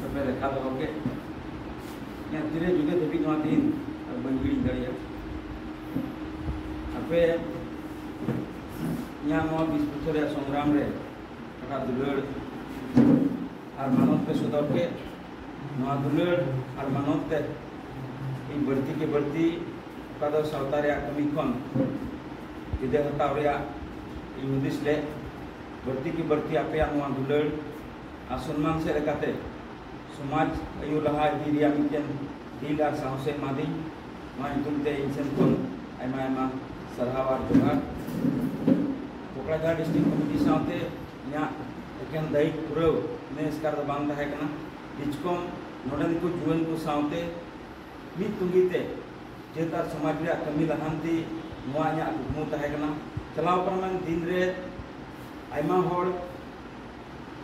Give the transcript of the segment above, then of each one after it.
ᱟᱥᱟᱯᱮ ᱞᱮᱠᱷᱟ ᱫᱚᱦᱚ ᱠᱮᱫ ᱤᱧᱟᱹᱜ ᱛᱤᱨᱮ ᱡᱩᱫᱟᱹ ᱫᱷᱟᱹᱵᱤᱡ ᱱᱚᱣᱟ ᱫᱤᱱ ᱟᱨ ᱵᱟᱹᱧ ᱦᱤᱲᱤᱧ ᱫᱟᱲᱮᱭᱟᱜᱼᱟ ᱟᱯᱮ ᱤᱧᱟᱹᱜ ᱱᱚᱣᱟ ᱵᱤᱥ ᱵᱚᱪᱷᱚᱨ ᱨᱮᱭᱟᱜ ᱥᱚᱝᱜᱨᱟᱢ ᱨᱮ ᱚᱠᱟ ᱫᱩᱞᱟᱹᱲ ᱟᱨ ᱢᱟᱱᱚᱛ ᱯᱮ ᱥᱚᱫᱚᱨ ᱠᱮᱫ ᱱᱚᱣᱟ ᱫᱩᱞᱟᱹᱲ ᱟᱨ ᱢᱟᱱᱚᱛ ᱛᱮ ᱤᱧ ᱵᱟᱹᱲᱛᱤ ᱠᱮ ᱵᱟᱹᱲᱛᱤ ᱚᱠᱟ ᱫᱚ ᱥᱟᱶᱛᱟ ᱨᱮᱭᱟᱜ ᱠᱟᱹᱢᱤ ᱠᱷᱚᱱ ᱡᱩᱫᱟᱹ ᱦᱟᱛᱟᱣ ᱨᱮᱭᱟᱜ ᱤᱧ ᱦᱩᱫᱤᱥ ᱞᱮᱫ ᱵᱟᱹᱲᱛᱤ ᱠᱮ ᱵᱟᱹᱲᱛᱤ ᱟᱯᱮᱭᱟᱜ ᱱᱚᱣᱟ ᱫᱩᱞᱟᱹᱲ ᱟᱨ ᱥᱚᱱᱢᱟᱱ ᱥᱮᱫ ᱞᱮᱠᱟᱛᱮ ᱥᱚᱢᱟᱡᱽ ᱟᱭᱩ ᱞᱟᱦᱟ ᱤᱫᱤ ᱨᱮᱭᱟᱜ ᱢᱤᱫᱴᱮᱱ ᱫᱤᱞ ᱟᱨ ᱥᱟᱦᱚᱥᱮ ᱮᱢᱟᱫᱤᱧ ᱱᱚᱣᱟ ᱧᱩᱛᱩᱢ ᱛᱮ ᱤᱧ ᱥᱮᱱ ᱠᱷᱚᱱ ᱟᱭᱢᱟ ᱟᱭᱢᱟ ᱥᱟᱨᱦᱟᱣ ᱟᱨ ᱡᱚᱦᱟᱨ ᱠᱚᱠᱲᱟᱡᱷᱟᱲ ᱰᱤᱥᱴᱨᱤᱠᱴ ᱠᱚᱢᱤᱴᱤ ᱥᱟᱶᱛᱮ ᱤᱧᱟᱹᱜ ᱮᱠᱮᱱ ᱫᱟᱭᱤᱛ ᱯᱩᱨᱟᱹᱣ ᱤᱱᱟᱹ ᱮᱥᱠᱟᱨ ᱫᱚ ᱵᱟᱝ ᱛᱟᱦᱮᱸ ᱠᱟᱱᱟ ᱰᱤᱪᱠᱚᱢ ᱱᱚᱰᱮᱱ ᱠᱚ ᱡᱩᱣᱟᱹᱱ ᱠᱚ ᱥᱟᱶᱛᱮ ᱢᱤᱫ ᱛᱩᱸᱜᱤ ᱛᱮ ᱡᱟᱹᱛ ᱟᱨ ᱥᱚᱢᱟᱡᱽ ᱨᱮᱭᱟᱜ ᱠᱟᱹᱢᱤ ᱞᱟᱦᱟᱱᱛᱤ ᱱᱚᱣᱟ ᱤᱧᱟᱹᱜ ᱠᱩᱠᱢᱩ ᱛᱟᱦᱮᱸ ᱠᱟᱱᱟ ᱪᱟᱞᱟᱣ ᱯᱟᱨᱚᱢᱮᱱ ᱫᱤᱱ ᱨᱮ ᱟᱭᱢᱟ ᱦᱚᱲ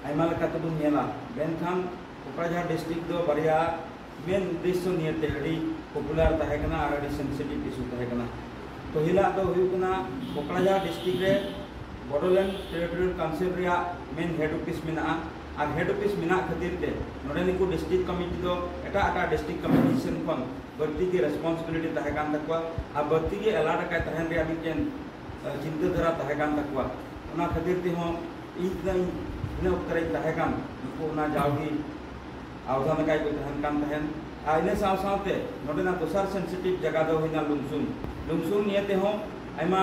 ᱟᱭᱢᱟ ᱞᱮᱠᱟ ᱛᱮᱵᱚᱱ ᱧᱮᱞᱟ ᱢᱮᱱᱠᱷᱟᱱ ᱠᱚᱠᱲᱟᱡᱷᱟᱲ ᱰᱤᱥᱴᱨᱤᱠ ᱫᱚ ᱵᱟᱨᱭᱟ ᱢᱮᱱ ᱩᱫᱽᱫᱮᱥᱥᱚ ᱱᱤᱭᱮᱛᱮ ᱟᱹᱰᱤ ᱯᱚᱯᱩᱞᱟᱨ ᱛᱟᱦᱮᱸ ᱠᱟᱱᱟ ᱟᱨ ᱟᱹᱰᱤ ᱥᱮᱱᱥᱤᱴᱤᱵᱷ ᱤᱥᱩ ᱛᱟᱦᱮᱸ ᱠᱟᱱᱟ ᱯᱟᱹᱦᱤᱞᱟᱜ ᱫᱚ ᱦᱩᱭᱩᱜ ᱠᱟᱱᱟ ᱠᱚᱠᱲᱟᱡᱷᱟᱲ ᱰᱤᱥᱴᱨᱤᱠ ᱨᱮ ᱵᱚᱰᱳᱞᱮᱱᱰ ᱴᱮᱨᱤᱴᱳᱨᱤᱭᱟᱞ ᱠᱟᱣᱩᱱᱥᱤᱞ ᱨᱮᱭᱟᱜ ᱢᱮᱱ ᱦᱮᱰ ᱚᱯᱷᱤᱥ ᱢᱮᱱᱟᱜᱼᱟ ᱟᱨ ᱦᱮᱰ ᱚᱯᱷᱤᱥ ᱢᱮᱱᱟᱜ ᱠᱷᱟᱹᱛᱤᱨ ᱛᱮ ᱱᱚᱰᱮ ᱱᱩᱠᱩ ᱰᱤᱥᱴᱨᱤᱠ ᱠᱚᱢᱤᱴᱤ ᱫᱚ ᱮᱴᱟᱜ ᱮᱴᱟᱜ ᱰᱤᱥᱴᱨᱤᱠ ᱠᱚᱢᱤᱴᱤ ᱥᱮᱱ ᱠᱷᱚᱱ ᱵᱟᱹᱲᱛᱤ ᱜᱮ ᱨᱮᱥᱯᱚᱱᱥᱤᱵᱤᱞᱤᱴᱤ ᱛᱟᱦᱮᱸ ᱠᱟᱱ ᱛᱟᱠᱚᱣᱟ ᱟᱨ ᱵᱟᱹᱲᱛᱤ ᱜᱮ ᱮᱞᱟᱨᱴ ᱟᱠᱟᱭ ᱛᱟᱦᱮᱱ ᱨᱮᱭᱟᱜ ᱢᱤᱫᱴᱮᱱ ᱪᱤᱱᱛᱟᱹ ᱫᱷᱟᱨᱟ ᱛᱟᱦᱮᱸ ᱠᱟᱱ ᱛᱟᱠᱚᱣᱟ ᱚᱱᱟ ᱠᱷᱟᱹᱛᱤᱨ ᱛᱮᱦᱚᱸ ᱤᱧ ᱛᱤᱱᱟᱹᱜ ᱤᱱᱟᱹ ᱚᱠᱛᱚ ᱨᱮᱧ ᱛᱟᱦᱮᱸ ᱠᱟᱱ ᱱᱩᱠᱩ ᱚᱱᱟ ᱡᱟᱣᱜᱮ ᱟᱣᱫᱷᱟ ᱞᱮᱠᱟ ᱜᱮᱠᱚ ᱛᱟᱦᱮᱱ ᱠᱟᱱ ᱛᱟᱦᱮᱸᱫ ᱟᱨ ᱤᱱᱟᱹ ᱥᱟᱶ ᱥᱟᱶᱛᱮ ᱱᱚᱰᱮᱱᱟᱜ ᱫᱚᱥᱟᱨ ᱥᱮᱱᱥᱤᱴᱤᱵᱷ ᱡᱟᱭᱜᱟ ᱫᱚ ᱦᱩᱭᱱᱟ ᱞᱩᱢᱥᱩᱝ ᱞᱩᱢᱥᱩᱝ ᱱᱤᱭᱮ ᱛᱮᱦᱚᱸ ᱟᱭᱢᱟ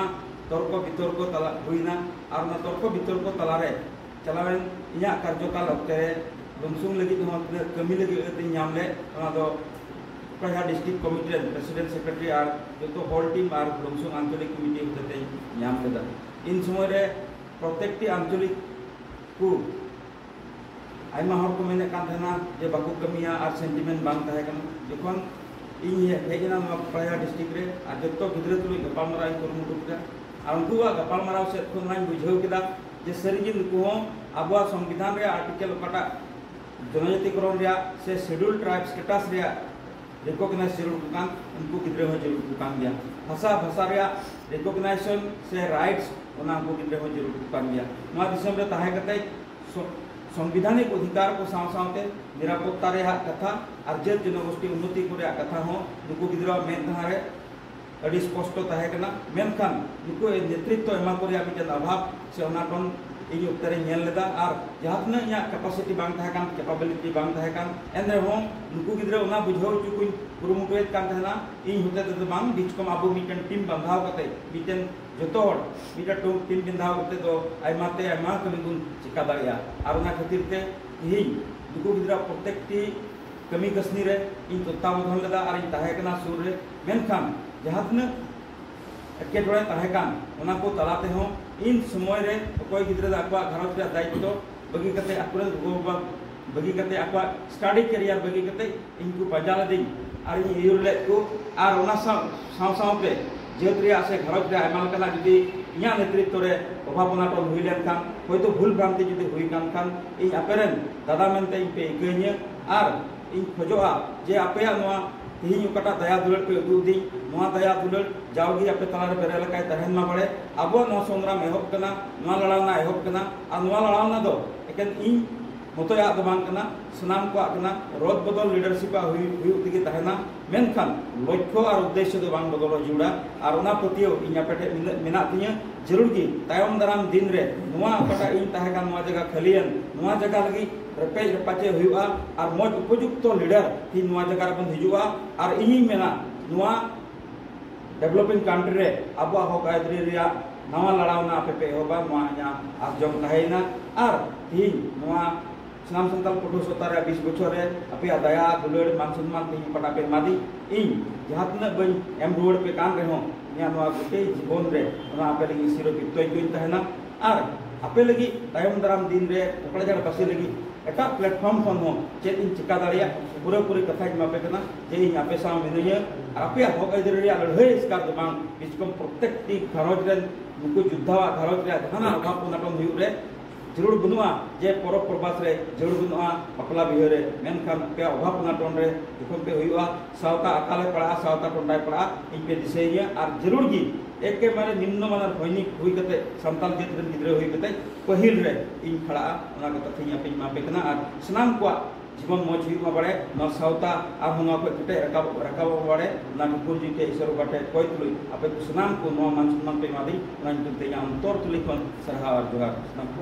ᱛᱚᱨᱠᱚ ᱵᱤᱛᱚᱨᱠᱚ ᱛᱟᱞᱟ ᱦᱩᱭᱱᱟ ᱟᱨ ᱚᱱᱟ ᱛᱚᱨᱠᱚ ᱵᱤᱛᱚᱨᱠᱚ ᱛᱟᱞᱟᱨᱮ ᱪᱟᱞᱟᱣᱮᱱ ᱤᱧᱟᱹᱜ ᱠᱟᱨᱡᱚᱠᱟᱞ ᱚᱠᱛᱮ ᱨᱮ ᱞᱩᱢᱥᱩᱝ ᱞᱟᱹᱜᱤᱫ ᱦᱚᱸ ᱛᱤᱱᱟᱹᱜ ᱠᱟᱹᱢᱤ ᱞᱟᱹᱜᱤᱫ ᱟᱹᱛ ᱤᱧ ᱧᱟᱢ ᱞᱮᱫ ᱚᱱᱟ ᱫᱚ ᱠᱚᱭᱦᱟ ᱰᱤᱥᱴᱨᱤᱠᱴ ᱠᱚᱢᱤᱴᱤ ᱨᱮᱱ ᱯᱨᱮᱥᱤᱰᱮᱱᱴ ᱥᱮᱠᱨᱮᱴᱟᱨᱤ ᱟᱨ ᱡᱚᱛᱚ ᱦᱚᱞ ᱴᱤᱢ ᱟᱨ ᱞᱩᱢᱥᱩᱝ ᱟᱧᱪᱚᱞᱤᱠ ᱠᱚᱢᱤᱴᱤ ᱦᱚᱛᱮᱛᱮᱧ ᱧᱟᱢ ᱞᱮᱫᱟ ᱤᱱ ᱥᱚᱢᱚᱭ ᱨᱮ ᱯᱨᱚᱛᱮᱠᱴᱤ ᱟᱧᱪᱚᱞᱤᱠ ᱠᱚ ᱟᱭᱢᱟ ᱦᱚᱲ ᱠᱚ ᱢᱮᱱᱮᱫ ᱠᱟᱱ ᱛᱟᱦᱮᱱᱟ ᱡᱮ ᱵᱟᱠᱚ ᱠᱟᱹᱢᱤᱭᱟ ᱟᱨ ᱥᱮᱱᱴᱤᱢᱮᱱᱴ ᱵᱟᱝ ᱛᱟᱦᱮᱸ ᱠᱟᱱᱟ ᱡᱚᱠᱷᱚᱱ ᱤᱧ ᱦᱮᱡ ᱮᱱᱟ ᱱᱚᱣᱟ ᱠᱚᱭᱦᱟ ᱰᱤᱥᱴᱨᱤᱠᱴ ᱨᱮ ᱟᱨ ᱡᱚᱛᱚ ᱜᱤᱫᱽᱨᱟᱹ ᱛᱩᱞᱩᱡ ᱜᱟᱯᱟᱞᱢᱟᱨᱟᱣ ᱤᱧ ᱠᱩᱨᱩᱢᱩᱴᱩ ᱠᱮᱫᱟ ᱟᱨ ᱩᱱᱠᱩᱣᱟᱜ ᱜᱟᱯᱟᱞᱢᱟᱨᱟᱣ ᱥᱮᱫ ᱠᱷᱚᱱ ᱱᱚᱣᱟᱧ ᱵᱩᱡᱷᱟᱹᱣ ᱠᱮᱫᱟ ᱡᱮ ᱥᱟᱹᱨᱤ ᱜᱮ ᱱᱩᱠᱩ ᱦᱚᱸ ᱟᱵᱚᱣᱟᱜ ᱥᱚᱝᱵᱤᱫᱷᱟᱱ ᱨᱮᱭᱟᱜ ᱟᱨᱴᱤᱠᱮᱞ ᱚᱠᱟᱴᱟᱜ ᱡᱚᱱᱚᱡᱟᱛᱤᱠᱚᱨᱚᱱ ᱨᱮᱭᱟᱜ ᱥᱮ ᱥᱮᱰᱩᱞ ᱴᱨᱟᱭᱤᱵ ᱥᱴᱮᱴᱟᱥ ᱨᱮᱭᱟᱜ ᱨᱤᱠᱚᱜᱱᱟᱭᱤᱡᱽ ᱡᱟᱹᱨᱩᱲ ᱠᱚ ᱠᱟᱱ ᱩᱱᱠᱩ ᱜᱤᱫᱽᱨᱟᱹ ᱦᱚᱸ ᱡᱟᱹᱨᱩᱲ ᱠᱚ ᱠᱟᱱ ᱜᱮᱭᱟ ᱵᱷᱟᱥᱟ ᱵᱷᱟᱥᱟ ᱨᱮᱭᱟᱜ ᱨᱤᱠᱚᱜᱱᱟᱭᱡᱮᱥᱚᱱ ᱥᱮ ᱨᱟᱭᱤᱴᱥ ᱚᱱᱟ ᱩᱱᱠᱩ ᱜᱤᱫᱽᱨᱟᱹ ᱦᱚᱸ ᱡᱟᱹᱨᱩᱲ ᱠᱚ ᱠᱟᱱ ᱜᱮᱭᱟ ᱱᱚᱣᱟ ᱫᱤᱥᱚᱢ ᱨᱮ ᱛᱟᱦᱮᱸ ᱠᱟᱛᱮ ᱥᱚᱝᱵᱤᱫᱷᱟᱱᱤᱠ ᱚᱫᱷᱤᱠᱟᱨ ᱠᱚ ᱥᱟᱶ ᱥᱟᱶᱛᱮ ᱱᱤᱨᱟᱯᱚᱛᱛᱟ ᱨᱮᱭᱟᱜ ᱠᱟᱛᱷᱟ ᱟᱨ ᱡᱟᱹᱛ ᱡᱚᱱᱚᱜᱳᱥᱴᱤ ᱩᱱᱱᱚᱛᱤ ᱠᱚ ᱨᱮᱭᱟᱜ ᱠᱟᱛᱷᱟ ᱦᱚᱸ ᱱᱩᱠᱩ ᱜᱤᱫᱽᱨᱟᱹᱣᱟᱜ ᱢᱮᱫ ᱫᱷᱟᱨᱮ ᱟᱹᱰᱤ ᱥᱯᱚᱥᱴᱚ ᱛᱟᱦᱮᱸ ᱠᱟᱱᱟ ᱢᱮᱱᱠᱷᱟᱱ ᱱᱩᱠᱩ ᱱᱮᱛᱨᱤᱛᱛᱚ ᱮᱢᱟ ᱠᱚ ᱨᱮᱭᱟᱜ ᱢᱤᱫᱴᱮᱱ ᱟᱵᱷᱟᱵᱽ ᱥᱮ ᱚᱱᱟ ᱠᱷᱚᱱ ᱤᱧ ᱚᱠᱛᱮ ᱨᱮᱧ ᱧᱮᱞ ᱞᱮᱫᱟ ᱟᱨ ᱡᱟᱦᱟᱸ ᱛᱤᱱᱟᱹᱜ ᱤᱧᱟᱹᱜ ᱠᱮᱯᱟᱥᱤᱴᱤ ᱵᱟᱝ ᱛᱟᱦᱮᱸ ᱠᱟᱱ ᱠᱮᱯᱟᱵᱤᱞᱤᱴᱤ ᱵᱟᱝ ᱛᱟᱦᱮᱸ ᱠᱟᱱ ᱮᱱ ᱨᱮᱦᱚᱸ ᱱᱩᱠᱩ ᱜᱤᱫᱽᱨᱟᱹ ᱚᱱᱟ ᱵᱩᱡᱷᱟᱹᱣ ᱦᱚᱪᱚ ᱠᱚᱧ ᱠᱩᱨᱩᱢᱩᱴᱩᱭᱮᱫ ᱠᱟᱱ ᱛᱟᱦᱮᱱᱟ ᱤᱧ ᱦᱚᱛᱮ ᱛᱮᱫᱚ ᱵᱟᱝ ᱵᱤᱪᱠᱚᱢ ᱟᱵᱚ ᱢᱤᱫᱴᱮᱱ ᱴᱤᱢ ᱵᱟᱸᱫᱷᱟᱣ ᱠᱟᱛᱮ ᱢᱤᱫᱴᱮᱱ ᱡᱚᱛᱚ ᱦᱚᱲ ᱢᱤᱫᱴᱮᱱ ᱴᱤᱢ ᱵᱟᱸᱫᱷᱟᱣ ᱠᱟᱛᱮ ᱫᱚ ᱟᱭᱢᱟ ᱛᱮ ᱟᱭᱢᱟ ᱠᱟᱹᱢᱤ ᱵᱚᱱ ᱪᱮᱠᱟ ᱫᱟᱲᱮᱭᱟᱜᱼᱟ ᱟᱨ ᱚᱱᱟ ᱠᱷᱟᱹᱛᱤᱨ ᱛᱮ ᱛᱮᱦᱮᱧ ᱱᱩᱠᱩ ᱜᱤᱫᱽᱨᱟᱹ ᱯᱨᱚᱛᱮᱠᱴᱤ ᱠᱟᱹᱢᱤ ᱠᱟᱹᱥᱱᱤ ᱨᱮ ᱤᱧ ᱛᱚᱛᱛᱟᱵᱚᱫᱷᱚᱱ ᱞᱮᱫᱟ ᱟᱨ ᱤᱧ ᱛᱟᱦᱮᱸ ᱠᱟᱱᱟ ᱥᱩᱨ ᱨᱮ ᱢᱮᱱᱠᱷᱟᱱ ᱡᱟᱦᱟᱸ ᱛᱤᱱᱟᱹᱜ ᱮᱴᱠᱮᱴᱚᱬᱮ ᱛᱟᱦᱮᱸ ᱠᱟᱱ ᱚᱱᱟ ᱠᱚ ᱛᱟᱞᱟ ᱛᱮᱦᱚᱸ ᱤᱱ ᱥᱚᱢᱚᱭ ᱨᱮ ᱚᱠᱚᱭ ᱜᱤᱫᱽᱨᱟᱹ ᱫᱚ ᱟᱠᱚᱣᱟᱜ ᱜᱷᱟᱨᱚᱸᱡᱽ ᱨᱮᱭᱟᱜ ᱫᱟᱭᱤᱛᱛᱚ ᱵᱟᱹᱜᱤ ᱠᱟᱛᱮ ᱟᱠᱚᱨᱮᱱ ᱜᱚᱜᱚᱼᱵᱟᱵᱟ ᱵᱟᱹᱜᱤ ᱠᱟᱛᱮ ᱟᱠᱚᱣᱟᱜ ᱥᱴᱟᱰᱤ ᱠᱮᱨᱤᱭᱟᱨ ᱵᱟᱹᱜᱤ ᱠᱟᱛᱮ ᱤᱧ ᱠᱚ ᱯᱟᱸᱡᱟ ᱞᱮᱫᱤᱧ ᱟᱨ ᱤᱧ ᱟᱹᱭᱩᱨ ᱞᱮᱫ ᱠᱚ ᱟᱨ ᱚᱱᱟ ᱥᱟᱶ ᱥᱟᱶ ᱥᱟᱶᱛᱮ ᱡᱟᱹᱛ ᱨᱮᱭᱟᱜ ᱥᱮ ᱜᱷᱟᱨᱚᱸᱡᱽ ᱨᱮ ᱟᱭᱢᱟ ᱞᱮᱠᱟᱱᱟᱜ ᱡᱩᱫᱤ ᱤᱧᱟᱹᱜ ᱱᱮᱛᱨᱤᱛᱛᱚ ᱨᱮ ᱚᱵᱷᱟᱵᱽ ᱚᱱᱟᱴᱚᱱ ᱦᱩᱭ ᱞᱮᱱᱠᱷᱟᱱ ᱦᱚᱭᱛᱳ ᱵᱷᱩᱞ ᱵᱷᱨᱟᱱᱛᱤ ᱡᱩᱫᱤ ᱦᱩᱭ ᱠᱟᱱ ᱠᱷᱟᱱ ᱤᱧ ᱟᱯᱮᱨᱮᱱ ᱫᱟᱫᱟ ᱢᱮᱱᱛᱮ ᱤᱧ ᱯᱮ ᱤᱠᱟᱹᱧᱟ ᱟᱨ ᱤᱧ ᱠᱷᱚᱡᱚᱜᱼᱟ ᱡᱮ ᱟᱯᱮᱭᱟᱜ ᱱᱚᱣᱟ ᱛᱮᱦᱮᱧ ᱚᱠᱟᱴᱟᱜ ᱫᱟᱭᱟ ᱫᱩᱞᱟᱹᱲ ᱯᱮ ᱩᱫᱩᱜ ᱟᱹᱫᱤᱧ ᱱᱚᱣᱟ ᱫᱟᱭᱟ ᱫᱩᱞᱟᱹᱲ ᱡᱟᱣᱜᱮ ᱟᱯᱮ ᱛᱟᱞᱟᱨᱮ ᱵᱮᱨᱮ ᱞᱮᱠᱟᱭ ᱛᱟᱦᱮᱱ ᱢᱟ ᱵᱟᱲᱮ ᱟᱵᱚᱣᱟᱜ ᱱᱚᱣᱟ ᱥᱚᱝᱜᱨᱟᱢ ᱮᱦᱚᱵ ᱠᱟᱱᱟ ᱱᱚᱣᱟ ᱞᱟᱲᱟᱣᱱᱟ ᱮᱦᱚᱵ ᱠᱟᱱᱟ ᱟᱨ ᱱᱚᱣᱟ ᱞᱟᱲᱟᱣᱱᱟ ᱫᱚ ᱮᱠᱮᱱ ᱤᱧ ᱢᱚᱛᱚᱭᱟᱜ ᱫᱚ ᱵᱟᱝ ᱠᱟᱱᱟ ᱥᱟᱱᱟᱢ ᱠᱚᱣᱟᱜ ᱠᱟᱱᱟ ᱨᱚᱫ ᱵᱚᱫᱚᱞ ᱞᱤᱰᱟᱨᱥᱤᱯ ᱟᱜ ᱦᱩᱭᱩᱜ ᱦᱩᱭᱩᱜ ᱛᱮᱜᱮ ᱛᱟᱦᱮᱱᱟ ᱢᱮᱱᱠᱷᱟᱱ ᱞᱚᱠᱠᱷᱚ ᱟᱨ ᱩᱫᱽᱫᱮᱥᱥᱚ ᱫᱚ ᱵᱟᱝ ᱵᱚᱫᱚᱞᱚᱜ ᱡᱩᱲᱟ ᱟᱨ ᱚᱱᱟ ᱯᱟᱹᱛᱭᱟᱹᱣ ᱤᱧ ᱟᱯᱮ ᱴᱷᱮᱱ ᱱᱤᱱᱟᱹᱜ ᱢᱮᱱᱟᱜ ᱛᱤᱧᱟᱹ ᱡᱟᱹᱨᱩᱲ ᱜᱮ ᱛᱟᱭᱚᱢ ᱫᱟᱨᱟᱢ ᱫᱤᱱ ᱨᱮ ᱱᱚᱣᱟ ᱚᱠᱟᱴᱟᱜ ᱤᱧ ᱛᱟᱦᱮᱸ ᱠᱟᱱ ᱱᱚᱣᱟ ᱡᱟᱭᱜᱟ ᱠᱷᱟᱹᱞᱤᱭᱮᱱ ᱱᱚᱣᱟ ᱡᱟᱭᱜᱟ ᱞᱟᱹᱜᱤᱫ ᱨᱮᱯᱮᱡ ᱨᱮᱯᱟᱪᱮ ᱦᱩᱭᱩᱜᱼᱟ ᱟᱨ ᱢᱚᱡᱽ ᱩᱯᱚᱡᱩᱠᱛᱚ ᱞᱤᱰᱟᱨ ᱛᱤᱧ ᱱᱚᱣᱟ ᱡᱟᱭᱜᱟ ᱨᱮᱵᱚᱱ ᱦᱤᱡᱩᱜᱼᱟ ᱟᱨ ᱤᱧᱤᱧ ᱢᱮᱱᱟ ᱱᱚᱣᱟ ᱰᱮᱵᱷᱞᱚᱯᱤᱝ ᱠᱟᱱᱴᱨᱤ ᱨᱮ ᱟᱵᱚᱣᱟᱜ ᱦᱚᱠ ᱟᱹᱭᱫᱟᱹᱨᱤ ᱨᱮᱭᱟᱜ ᱱᱟᱣᱟ ᱞᱟᱲᱟᱣᱱᱟ ᱟᱯᱮ ᱯᱮ ᱮᱦᱚᱵᱟ ᱱᱚᱣᱟ ᱤᱧᱟᱹᱜ ᱟᱨ ᱡᱚᱢ ᱛᱟᱦᱮᱸᱭᱮᱱᱟ ᱟᱨ ᱛᱤᱦᱤᱧ ᱱᱚᱣᱟ ᱥᱟᱱᱟᱢ ᱥᱟᱱᱛᱟᱲ ᱯᱟᱹᱴᱷᱩᱣᱟᱹ ᱥᱟᱶᱛᱟ ᱨᱮ ᱵᱤᱥ ᱵᱚᱪᱷᱚᱨ ᱨᱮ ᱟᱯᱮᱭᱟᱜ ᱫᱟᱭᱟ ᱫᱩᱞᱟᱹᱲ ᱢᱟᱱ ᱥᱚᱱᱢᱟᱱ ᱛᱤᱦᱤᱧ ᱚᱠᱟᱴᱟᱜ ᱯᱮ ᱮᱢᱟᱫᱤᱧ ᱤᱧ ᱡᱟᱦᱟᱸ ᱛᱤᱱᱟᱹᱜ ᱵᱟᱹᱧ ᱮᱢ ᱨᱩᱣᱟᱹᱲ ᱯᱮ ᱠᱟᱱ ᱨᱮᱦᱚᱸ ᱤᱧᱟᱹᱜ ᱱᱚᱣᱟ ᱜᱚᱴᱮ ᱡᱤᱵᱚᱱ ᱨᱮ ᱚᱱᱟ ᱟᱯᱮ ᱞᱟᱹᱜᱤᱫ ᱥᱤᱨᱚ ᱠᱤᱨᱛᱚᱧ ᱛᱟᱦᱮᱱᱟ ᱟᱨ ᱟᱯᱮ ᱞᱟᱹᱜᱤᱫ ᱛᱟᱭᱚᱢ ᱫᱟᱨᱟᱢ ᱫᱤᱱ ᱨᱮ ᱠᱚᱠᱲᱟᱡᱟᱲ ᱵᱟᱹᱥᱤ ᱞᱟᱹᱜᱤᱫ ᱮᱴᱟᱜ ᱯᱞᱟᱴᱯᱷᱚᱨᱢ ᱠᱷᱚᱱ ᱦᱚᱸ ᱪᱮᱫ ᱤᱧ ᱪᱮᱠᱟ ᱫᱟᱲᱮᱭᱟᱜ ᱯᱩᱨᱟᱹ ᱯᱩᱨᱤ ᱠᱟᱛᱷᱟᱧ ᱮᱢᱟᱯᱮ ᱠᱟᱱᱟ ᱡᱮ ᱤᱧ ᱟᱯᱮ ᱥᱟᱶ ᱢᱤᱱᱟᱹᱧᱟ ᱟᱨ ᱟᱯᱮᱭᱟᱜ ᱦᱚᱠ ᱟᱹᱭᱫᱟᱹᱨ ᱨᱮᱭᱟᱜ ᱞᱟᱹᱲᱦᱟᱹᱭ ᱮᱥᱠᱟᱨ ᱫᱚ ᱵᱟᱝ ᱵᱤᱥᱠᱚᱢ ᱯᱨᱚᱛᱮᱠᱴᱤ ᱜᱷᱟᱨᱚᱸᱡᱽ ᱨᱮᱱ ᱱᱩᱠᱩ ᱡᱳᱫᱽᱫᱷᱟᱣᱟᱜ ᱜᱷᱟᱨᱚᱸᱡᱽ ᱨᱮᱭᱟᱜ ᱡᱟᱦᱟᱱᱟᱜ ᱚᱵᱷᱟᱵ ᱚᱱᱟᱴᱚᱱ ᱦᱩᱭᱩᱜ ᱨᱮ ᱡᱟᱹᱨᱩᱲ ᱵᱟᱹᱱᱩᱜᱼᱟ ᱡᱮ ᱯᱚᱨᱚᱵᱽ ᱯᱚᱨᱵᱟᱥ ᱨᱮ ᱡᱟᱹᱨᱩᱲ ᱵᱟᱹᱱᱩᱜᱼᱟ ᱵᱟᱯᱞᱟ ᱵᱤᱦᱟᱹ ᱨᱮ ᱢᱮᱱᱠᱷᱟᱱ ᱟᱯᱮᱭᱟᱜ ᱚᱵᱷᱟᱵ ᱚᱱᱟᱴᱚᱱ ᱨᱮ ᱡᱚᱠᱷᱚᱱ ᱯᱮ ᱦᱩᱭᱩᱜᱼᱟ ᱥᱟᱶᱛᱟ ᱟᱠᱟᱞᱮ ᱯᱟᱲᱟᱜᱼᱟ ᱥᱟᱶᱛᱟ ᱠᱚᱸᱰᱟᱭ ᱯᱟᱲᱟᱜᱼᱟ ᱤᱧ ᱯᱮ ᱫᱤᱥᱟᱹᱭ ᱜᱮᱭᱟ ᱟᱨ ᱡᱟᱹᱨᱩᱲ ᱜᱮ ᱮᱠᱮᱵᱟᱨᱮ ᱱᱤᱢᱱᱚ ᱢᱟᱱᱟᱨ ᱥᱚᱭᱱᱤᱠ ᱦᱩᱭ ᱠᱟᱛᱮ ᱥᱟᱱᱛᱟᱲ ᱡᱟᱹᱛ ᱨᱮᱱ ᱜᱤᱫᱽᱨᱟᱹ ᱦᱩᱭ ᱠᱟᱛᱮ ᱯᱟᱹᱦᱤᱞ ᱨᱮ ᱤᱧ ᱯᱟᱲᱟᱜᱼᱟ ᱚᱱᱟ ᱠᱚ ᱠᱟᱛᱷᱟ ᱤᱧ ᱟᱯᱮᱧ ᱮᱢᱟ ᱯᱮ ᱠᱟᱱᱟ ᱟᱨ ᱥᱟᱱᱟᱢ ᱠᱚᱣᱟᱜ ᱡᱤᱵᱚᱱ ᱢᱚᱡᱽ ᱦᱩᱭᱩᱜ ᱢᱟ ᱵᱟᱲᱮ ᱱᱚᱣᱟ ᱥᱟᱶᱛᱟ ᱟᱨᱦᱚᱸ ᱱᱚᱣᱟ ᱠᱚ ᱠᱮᱴᱮᱡ ᱨᱟᱠᱟᱵ ᱨᱟᱠᱟᱵᱚᱜ ᱢᱟ ᱵᱟᱲᱮ ᱚᱱᱟ ᱠᱚ ᱠᱩᱨᱡᱤ ᱴᱷᱮᱡ ᱤᱥᱚᱨ ᱵᱟᱵᱟ ᱴᱷᱮᱡ ᱠᱚᱭ ᱛᱩᱞᱩᱡ ᱟᱯᱮ ᱠᱚ ᱥᱟᱱᱟᱢ ᱠᱚ ᱱᱚᱣᱟ ᱢᱟᱱ ᱥᱚᱱᱢᱟᱱ ᱯᱮ ᱮᱢᱟᱫᱤᱧ ᱚᱱᱟ ᱧᱩᱛᱩᱢ ᱛᱮ ᱤᱧᱟᱹᱜ ᱚᱱᱛᱚᱨ ᱛᱩᱞᱤ ᱠᱷᱚᱱ ᱥᱟᱨᱦᱟᱣ ᱟᱨ ᱡᱚᱦᱟᱨ ᱥᱟᱱᱟᱢ ᱠᱚ